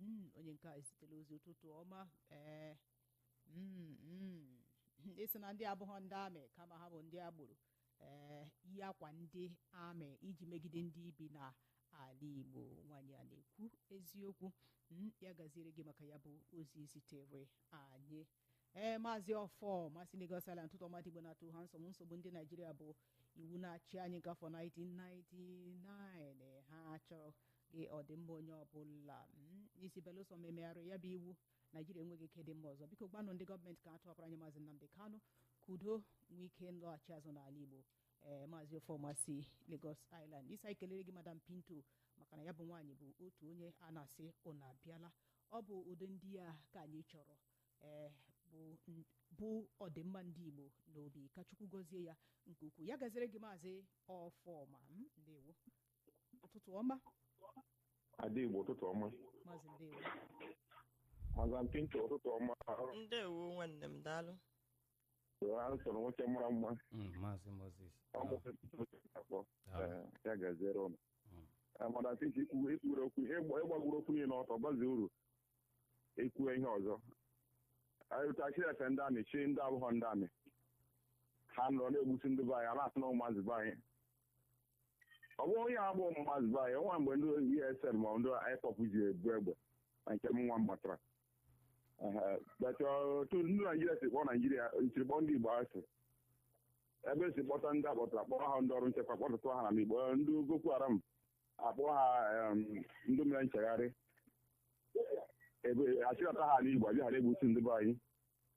Mm, onye nke a ezitela ozi ụtụtụ ọma ee mm, mm. ị sị na ndị a abụghọ ndị army kama ha bụ ndị agboro ee yi akwa ndị army iji megide ndị bi na ala igbo nwaanyị a na-ekwu eziokwu m ya gaziere gị maka ya bụ ozi i zitere anyị ee maazị Ọfọma si Lagos Island ụtụtụ ọma Ada Igbo na Too Handsome nsogbu ndị naijiria bụ iwu na-achị anyị nke afọ 1999 ha achọghị ọdịmma onye ọbụla ị sị belụsọ ma e megharịrị ya bụ iwu naijiria enweghị ike ịdị mma ọzọ biko gwanụ ndị gọọmenti ka ha tọpụrụ anyị maazị nnamdị kanụ ka udo nwee ike ịlọghachi azụ n'ala igbo ee maazị Ọfọma si lagos island ị sị anyị kelere gị madam pinto maka na ya bụ nwaanyị bụ otu onye a na-asị unu abịala ọ bụ ụdị ndị a ka anyị chọrọ ee bu n- bu ọdịmma ndị igbo n'obi ka chukwu gọzie ya nke ukwuu ya gaziere gị maazị ọfọma m ndewo ụtụtụ ọma Ada Igbo ụtụtụ ọma. maazị ndewo Madam Pinto ụtụtụ ọma. ndewo nwanne m daalụ Too Handsome nwoke mara mma. Mm, maazị moses Ọ bụ afọ. Ee, Ya gaziere ụnụ. Ee, Madam Pinto ikwuwe ikwuwe okwu ihe gba- ịgbagburu okwu niile ọtọ gbazuru. Ekwuwe ihe ọzọ. Anyị ụta achị efe ndị army chi ndị abụghọ ndị army. Ha nọrọ na-egbusi ndị be anyị, a na-asị na ụmụazị be anyị. ọ bụ onye agbụ ụmụazị be anyị nwa mgbe ndị ESN ma ndị IPOB ji ebu egbe na nke m nwa m matara Ehe, but otu ndị naijiria si kpọọ naijiria siri kpọọ ndị igbo asị ebe e si kpọta ndị a kpọtara kpọọ ha ndị ọrụ nchekwa kpọtụtụ ha na igbo ndị boko haram a kpọọ ha em, ndị mere nchegharị ebe a chịkọta ha n'igbo abịa ghara egbusi ndị be anyị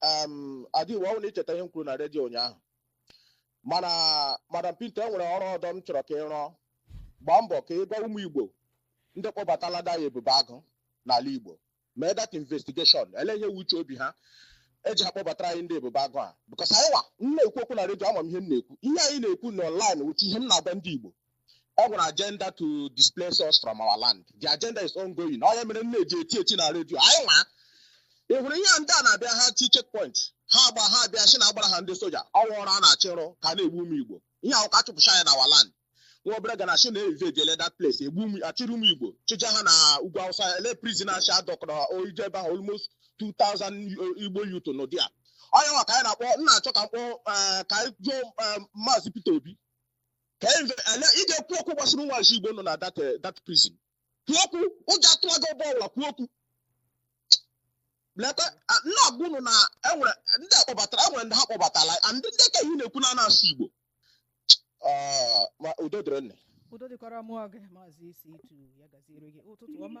em, Ada Igbo ọ wụ na i cheta ihe m kwuru na redio ụnyaahụ mana madam Pinto e nwere ọrụ ọdọ m chọrọ ka ị rụọ gbaa mbọ ka ị gwa ụmụ Igbo ndị kpọbatalara anyị ebube agụ n'ala Igbo mee that investigation ele ihe wụ uche obi ha eji ha kpọbatara anyị ndị ebube agụ a because anyị wa m na-ekwu okwu na redio ama m ihe m na-ekwu ihe anyị na-ekwu na online wụ ihe m na-agwa ndị Igbo o nwere agenda to displace us from our land the agenda is ongoing ọ ya mere m ji eti eti na redio anyị nwa ị hụrụ ihe ndị a na-abịa ha ti checkpoint ha gba ha bịa sị na a gbara ha ndị soja ọnwa ọrụ a na-achị rụ ka na-egbu ụmụ igbo ihe ahụ ka a chụpụcha anyị na our land nwa obere ga na si na invadiele that place egbu ụmụ achịrị ụmụ igbo chịja ha na ugwu awụsa ele prison achị adọkọrọ oije ebe ahụ almost 2000 igbo youth nọ there onye nwa ka anyị na-akpọ nna achọ ka mkpọ ka anyị jụọ maazị peter obi ka inve- ele ị ga-ekwu okwu gbasara ụmụazị igbo nọ na that eh, that prison kwuo okwu ụjọ atụwa gị ọbọ ọbụla kwuo okwu leta a- m na-agwa unu na enwere ndị akpọbatara enwere ndị ha kpọbatara and ndị ka ihe na-ekwu na a na-asụ igbo Ah, ma udo dịrị nne udo dịkwara mmụọ gị maazị isi itu ya gaziere gị ụtụtụ ọma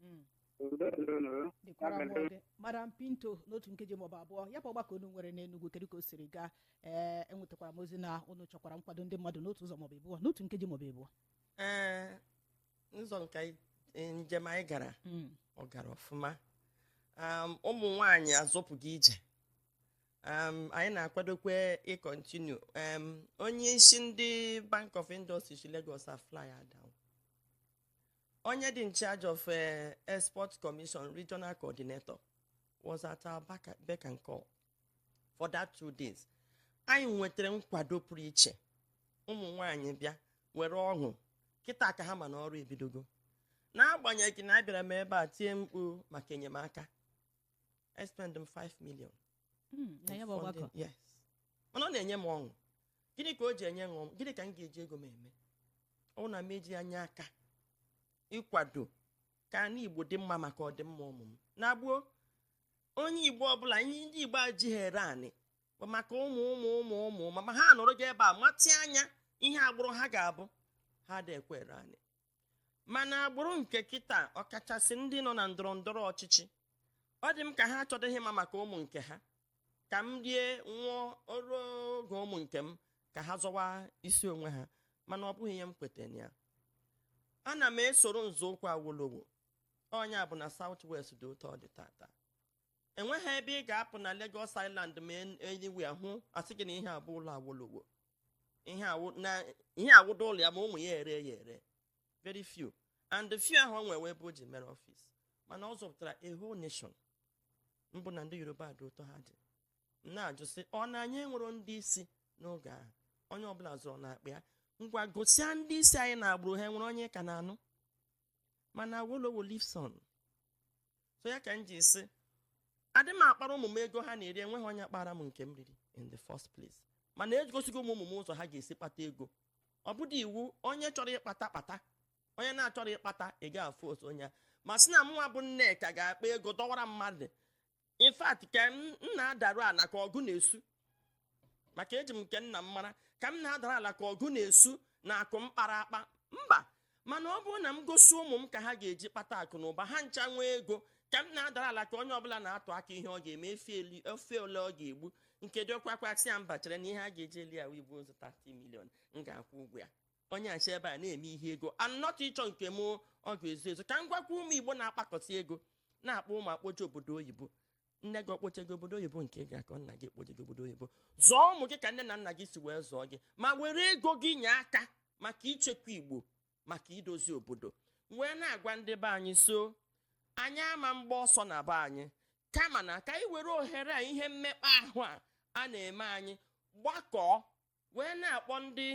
Mm. Udo dịrị unu. dịkwara Ya mere, mmụọ gị madam pinto n'otu nkeji maọbụ abụọ ya bụ ọgbakọ unu nwere n'enugwu kedu ka o siri gaa ee enwetakwara m ozi na unu chọkwara nkwado ndị mmadụ n'otu ụzọ maọbụ abụọ n'otu nkeji maọbụ abụọ ee ụzọ nke anyị- eh, njem anyị gara Mm. ọ gara ọfụma Um, ụmụ nwanyị azọpụgo ije Um, anyị na-akwadokwe ịcontinue Um, onye isi ndị bank of industry si lagos afly down onye dị in charge of eh, export commission regional coordinator was at our back- beck and call for that two days anyị nwetara nkwado pụrụ iche ụmụ nwanyị bịa were ọṅụ kịta ka ha ma na ọrụ ebidogo n'agbanyeghị na abịara m ebe a tie mkpu maka enyemaka I spend m 5 million Mm, na ya bụ ọgbakọ funding- yes mana ọ na-enye m ọṅụ gịnị ka o ji enye m ọṅụ gịnị ka m ga-eji ego m eme ọ na m eji anya aka ịkwado ka anị igbo dị mma maka ọdịmma ụmụ m na gboo onye igbo ọbụla anyị ndị igbo ajighị ere anị bụ maka ụmụ ụmụ ụmụ ụmụ ma ma ha nọrọ gị ebe a matị anya ihe agbụrụ ha ga-abụ ha da ekwe ere anị mana agbụrụ nke kịta ọkachasị ndị nọ na ndọrọ ndọrọ ọchịchị ọ dị m ka ha achọdịghị ịma maka ụmụ nke ha ka m rie nwụọ o ruo oge ụmụ nke m ka ha zọwa isi onwe ha mana ọ bụghị ihe m kwetara na ya ana m esoro nzọụkwụ awolowo onye bụ na south west dị otu ọ dị taata enweghị ebe ị ga-apụ na Lagos Island ma anywhere hụ a sị gị na ihe a bụ ụlọ awolowo ihe a wụdụ ụlọ ya ma ụmụ ya ere ya ere very few and the few ahụ o nwere ebe o ji mere office mana ọ zọpụtara a whole nation bụ na ndị yoruba dị otu ha dị m na-ajụ sị ọ na anyị enwero ndị isi n'oge ahụ onye ọbụla zuru n'akpa ya ngwa gosia ndị isi anyị na agbụrụ ha nwere onye ka na-anụ mana awolowo lives on so ya ka m ji sị adị m akpara ụmụ m ego ha na-eri enweghị onye kpara m nke m riri in the first place mana egosigo m ụmụ m ụzọ ha ga-esi kpata ego ọ bụdị iwu onye chọrọ ịkpata kpata onye na-achọrọ ịkpata ị ga-afụ otu onye ma sị na mụnwa bụ nneka ga-akpa ego dọwara mmadụ in fact ka m m na-adaru ala ka ọgụ na-esu maka eji m nke nna m mara ka m na-adara ala ka ọgụ na-esu na akụ m kpara akpa mba mana ọ bụrụ na m gosi ụmụ m ka ha ga-eji kpata akụ na ụba ha ncha nwee ego ka m na-adara ala ka onye ọbụla na-atụ aka ihe ọ ga-eme efi eli- efi ole ọ ga-egbu nke diọkpa kwa sị ya mba chere na ihe a ga-eji eli ya wụ igbe ozu 30 million m ga-akwụ ụgwọ ya onye achị ebe a na-eme ihe ego anọtụ ịchọ nke m ọ ga-ezu ezu ka m gwakwa ụmụ igbo na-akpakọsị ego na-akpọ ụmụ ha akpọje obodo oyibo nne gị ọ kpọje gị obodo oyibo nke gị aka nna gị akpọje gị obodo oyibo zụọ ụmụ gị ka nne na nna gị si wee zụọ gị ma were ego gị nye aka maka ichekwa igbo maka idozi obodo wee na-agwa ndị be anyị so anyị ama mgba ọsọ na be anyị kama na ka anyị were ohere a ihe mmekpa ahụ a a na-eme anyị gbakọọ wee na-akpọ ndị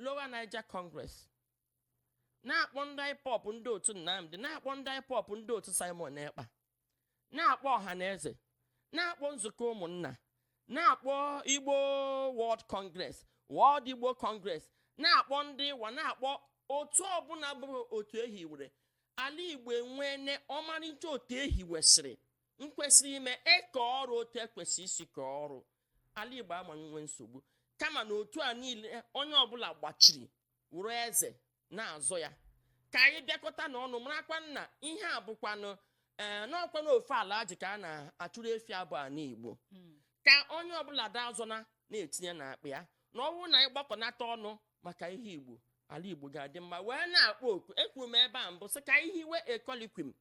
Lower Niger Congress na-akpọ ndị IPOB ndị otu Nnamdi na-akpọ ndị IPOB ndị otu Simon Ekpa na-akpọ Ọhaneze na-akpọ nzukọ ụmụnna na-akpọ Igbo World Congress World Igbo Congress na-akpọ ndị IWA na-akpọ otu ọbụla bụ otu ehiwere ala Igbo enweene ọmarịcha otu ehiwesịrị nkwesịrị ime eke ọrụ otu ekwesị isi kee ọrụ ala igbo ama enwe nsogbu kama na otu a niile onye ọbụla gbachiri wụrụ eze na-azọ ya ka anyị bịakọta na ọnụ marakwa na ihe a bụkwanụ ee n'ọkwa na ofe ala ji ka a na-achụrụ efi abụ a n'igbo Mm. ka onye ọbụla da azọna na-etinye n'akpa ya na ọ bụrụ na anyị gbakọnata ọnụ maka ihe igbo ala igbo ga-adị mma wee na-akpọ oku ekwuru m ebe a mbụ sị ka anyị hiwe a colloquium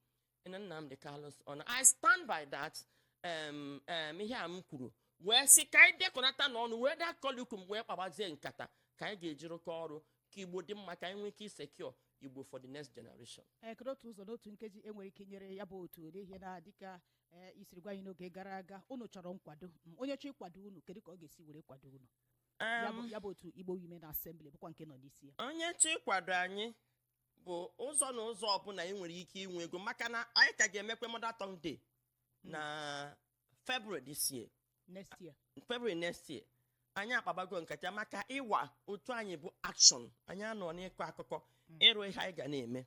na Nnamdi Kanu issue and I stand by that um, um, ihe a m kwuru wee sị ka anyị dekọnata n'ọnụ nwee that colloquium wee kpabazie nkata ka anyị ga-eji rụkọ ọrụ ka igbo dị mma ka anyị nwee ike isecure igbo for the next generation ee kedu otu ụzọ n'otu nkeji enwere ike nyere ya bụ otu n'ihi na dịka i siri gwa anyị n'oge gara aga unu chọrọ nkwado m, onye chọọ ịkwado unu kedu ka ọ ga-esi were kwado unu ya bụ Um, ya bụ otu igbo women assembly bụkwa nke ị nọ n'isi ya onye chọọ ịkwado anyị bụ ụzọ na ụzọ ọbụla ị nwere ike inwe ego maka na anyị ka ga-emekwa mother tongue day na february this year next year february next year anyị akpabago nkata maka IWA otu anyị bụ action anyị anọ n'ịkọ akụkọ ịrụ ihe anyị ga na-eme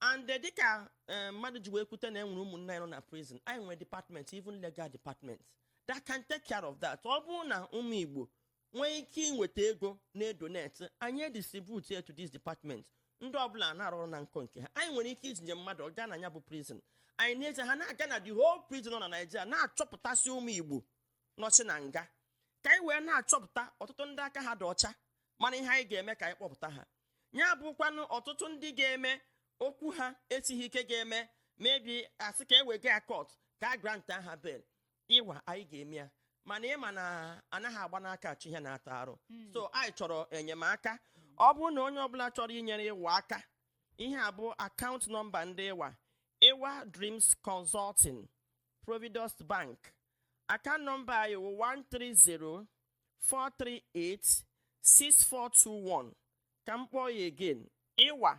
and eh, dịka eh, mmadụ ji wee kwute na e nwere ụmụnna anyị nọ na prison anyị nwere department even legal department that can take care of that ọ bụrụ na ụmụ igbo nwee ike inweta ego na-edonate anyị edistribute ya to this department ndị ọbụla na-arụ ọrụ na nkọ nke ha anyị nwere ike itinye mmadụ ọ gaa na ya bụ prison anyị na-eje ha na-aga na the whole prison nọ na naijiria na-achọpụtasị ụmụ igbo nọchi na nga ka anyị wee na-achọpụta ọtụtụ ndị aka ha dị ọcha mana ihe anyị ga-eme ka anyị kpọpụta ha ya bụkwanụ ọtụtụ ndị ga-eme okwu ha esighị ike ga-eme maybe a sị ka e wega ya court ka a granta ha bail ịwa anyị ga-eme ya mana ị ma na anaghị agba n'aka achụ ihe na-ata arụ so anyị chọrọ enyemaka ọ bụrụ na onye ọbụla chọrọ inyere ịwa aka ihe a bụ akaụntụ nọmba ndị ịwa ịwa dreams consulting providus bank akaụntụ nọmba anyị wụ 130 438 6421 ka m kpọọ ya again ịwa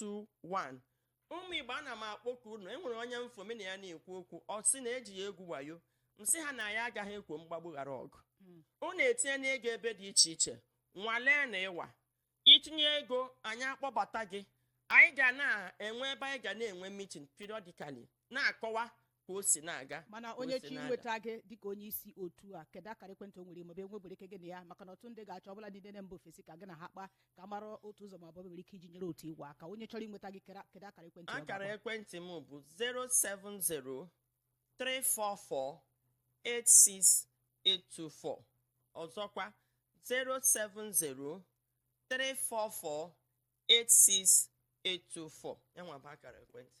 221 ụmụ igbo ana m akpọku unu enwere onye m fụ mụ na ya na-ekwu okwu ọ sị na eji ya egwu wayo m sị ha na anyị agaghị ekwo mgbagbu ghara ọgụ unu etinyena ego ebe dị iche iche nwalee na ịwa i tinye ego anyị akpọbata gị anyị ga na-enwe ebe anyị ga na-enwe mitin periodically na-akọwa ka o si na-aga mana onye chọọ inweta gị dịka onye isi otu a kedu akara ekwentị o nwere maọbụ enwebere ike gị na ya maka na ọtụtụ ndị ga-achọ ọbụladị na mba ofesi ka gị na ha kpaa ka a mara otu ụzọ maọbụ nwere ike iji nyere otu ịwa aka onye chọrọ inweta gị kere- kedu akara ekwentị ọ ga-akpọ? akara ekwentị m bụ 070-344-86824 ọzọkwa 070-344-86824 ya nwa bụ akara ekwentị